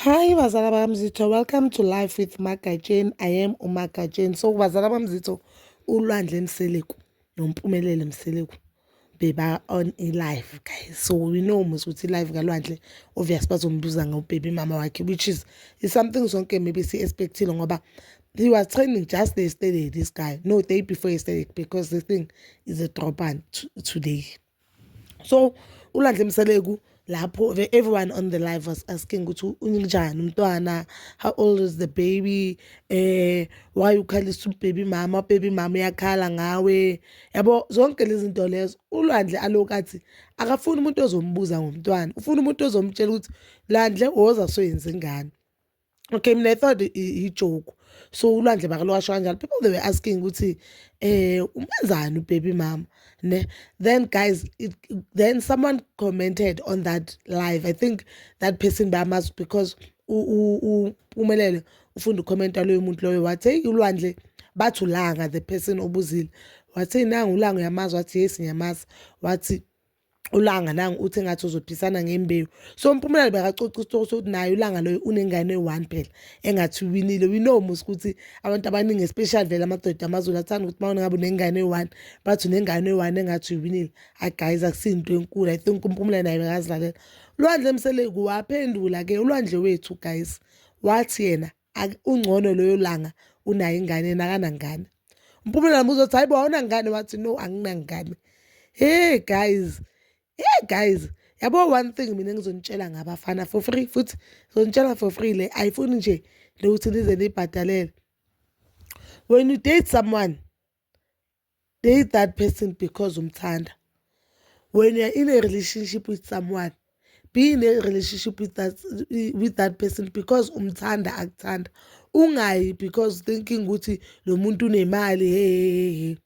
Hi bazala bamzitho welcome to life with Magatsheni I am uMagatsheni so bazala bamzitho ulwandle Mseleku nompumelele Mseleku beba on a live guys so we know mos ukuthi live kalwandle obvious bazombuza ngobhebi mama wakhe which is is something sonke maybe si expectile ngoba he was training just yesterday this guy no day before yesterday because the thing is a drop on today so ulandle mseleku lapho everyone on the live was asking ukuthi unjani umntwana how old is the baby eh why ukhalisa ubaby mama ubaby mama uyakhala ngawe yabo zonke lezi zinto lezo ulwandle alokathi akafuni umuntu ozombuza ngomntwana ufuna umuntu ozomtshela ukuthi landle woza soyenza ingane okay mina i thought ijoke so ulwandle bakalwasho kanjani people they were asking ukuthi eh umenzani ubaby mama ne then guys it, then someone commented on that live i think that person bamazi because umelele ufunda ukhomenta loyo muntu loyo wathi hey ulwandle bathi ulanga the person obuzile wathi nangu ulanga uyamazi wathi yes ngiyamazi wathi ulanga nangu uthi engathi uzophisana ngembewu so umpumelelo bekacoca isitori sokuthi naye ulanga loyo unengane eyi-one phela engathi uwinile we know mos ukuthi abantu abaningi especially vele amadoda amazulu athanda ukuthi mawona ngabe unengane eyi-one bathi unengane eyi-one engathi uyiwinile hayi guys akusiyinto enkulu i think umpumelelo naye bekazilalela ulwandle emseleku waphendula-ke ulwandle wethu guys wathi yena ungcono loyo langa unayo ingane yena akanangane umpumela nambuza ukuthi hayi bo awunangane wathi no anginangane hey guys hey guys yabo one thing mina ngizonitshela ngabafana for free futhi ngizonitshela for free le ayifuni nje lokuthi nize niyibhadalele when you date someone date that person because umthanda when you're in a relationship with someone be in a relationship with that, with that person because umthanda akuthanda ungayi because thinking ukuthi lo muntu unemali hehehe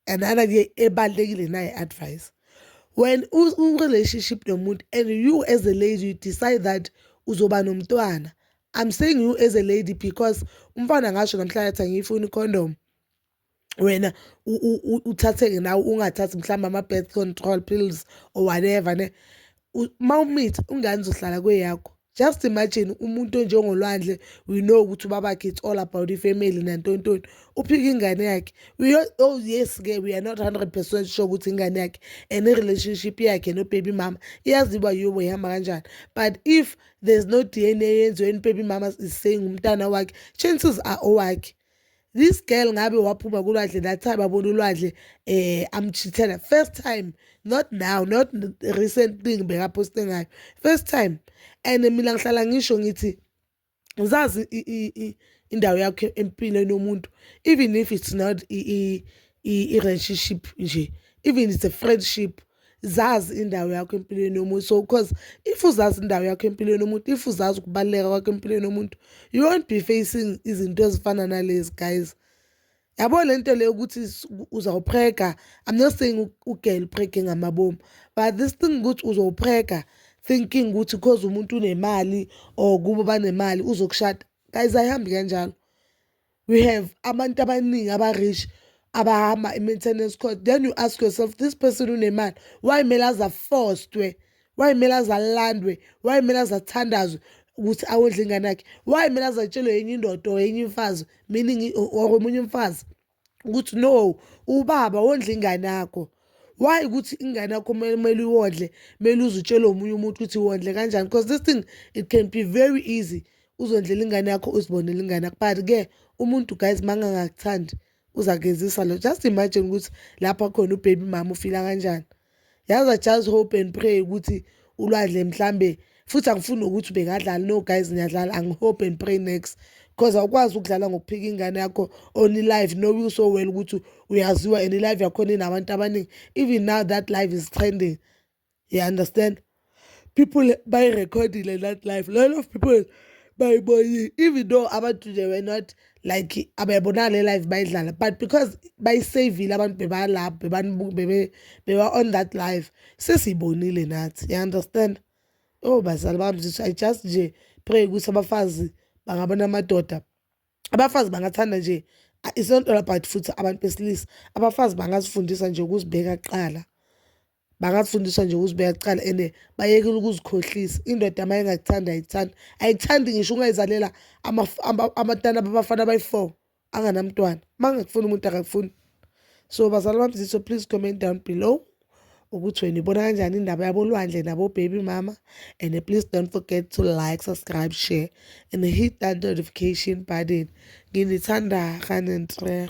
anana ke ebalekile naye advice when u relationship nomuntu and you as a lady you decide that uzoba nomntwana i'm saying you as a lady because umfana ngasho namhlanje athi angiyifuni condom wena uthatheke nawe ungathathi mhlawumbe ama-birth control pills or whatever ne uma umithi ungane uzohlala kweyakho just imagine umuntu onjengolwandle we know ukuthi ubabakhe it's all about ifamily nantontoni uphika ingane yakhe oh yes-ke we are not 100 percent sure ukuthi ingane yakhe and i-relationship yakhe nobaby mama iyaziba yobo ihamba kanjani but if there's no d n a yenziwe enibaby mama is saying umntana wakhe chances are owakhe this girl ngabe waphuma kulwandle that time abona ulwandle eh amchithela first time not now not recent thing bekaposte ngayo first time and mina ngihlala ngisho ngithi uzazi indawo yakho empilweni yomuntu even if it's not i relationship nje even it's a friendship zazi indawo yakho empilweni yomuntu so because if uzazi indawo yakho empilweni yomuntu if uzazi ukubaluleka kwakho empilweni yomuntu you won't be facing izinto ezifana nalezi guys yabo le nto leyo ukuthi uzawuprega i'm not saying ugirl uprege ngamabomu but this thing ukuthi uzowuprega thinking ukuthi cause umuntu unemali or kubo banemali uzokushada guys ayihambi kanjalo we have abantu abaningi aba-rich abahamba i-maintenance cost then you ask yourself this person unemali why kumele aze afostwe why kumele aze alandwe why kumele aze athandazwe ukuthi awondle ingane yakhe why kumele aze atshelwe yenye indoda or yenye imfazi meaning or omunye umfazi ukuthi no ubaba wondla ingane yakho why ukuthi ingane yakho kumele uyondle kumele uze utshelwe omunye umuntu ukuthi wondle kanjani because this thing it can be very easy uzondlela ingane yakho uzibonele ingane yakho but ke umuntu guys mangangakuthandi uzakezisa lo just imagine ukuthi lapha khona ubaby mama ufila kanjani yazi i just hope and pray ukuthi ulwadle mhlambe futhi angifuni nokuthi ubekadlali no guys ngiyadlala angihope and pray next because awukwazi ukudlala ngokuphika ingane yakho on live know you so well ukuthi uyaziwa and live yakhona inabantu abaningi even now that live is trending you understand people bayirekhodile that life a lot of people bayibonile even though abantu they were not like abayibonanga le life bayidlala but because bayisavile abantu bebalapho beba on that life sesiyibonile nathi you understand oh bazali bami zithi i just nje pray ukuthi abafazi bangabona amadoda abafazi bangathanda nje it's not all about futhi abantu besilisa abafazi bangazifundisa nje ukuzibeka kuqala bangafundiswa nje ukuzibeka kuqala and bayekile ukuzikhohlisa indoda uma ingakuthanda ayikuthandi ayikuthandi ngisho ungayizalela amatana babafana abayi-four anganamntwana uma ngakufuni umuntu akakufuni so bazali bamziso please comment down below ukuthi wena ibona kanjani indaba yabolwandle nabobaby mama and please don't forget to like subscribe share and hit that notification button nginithanda kanentreh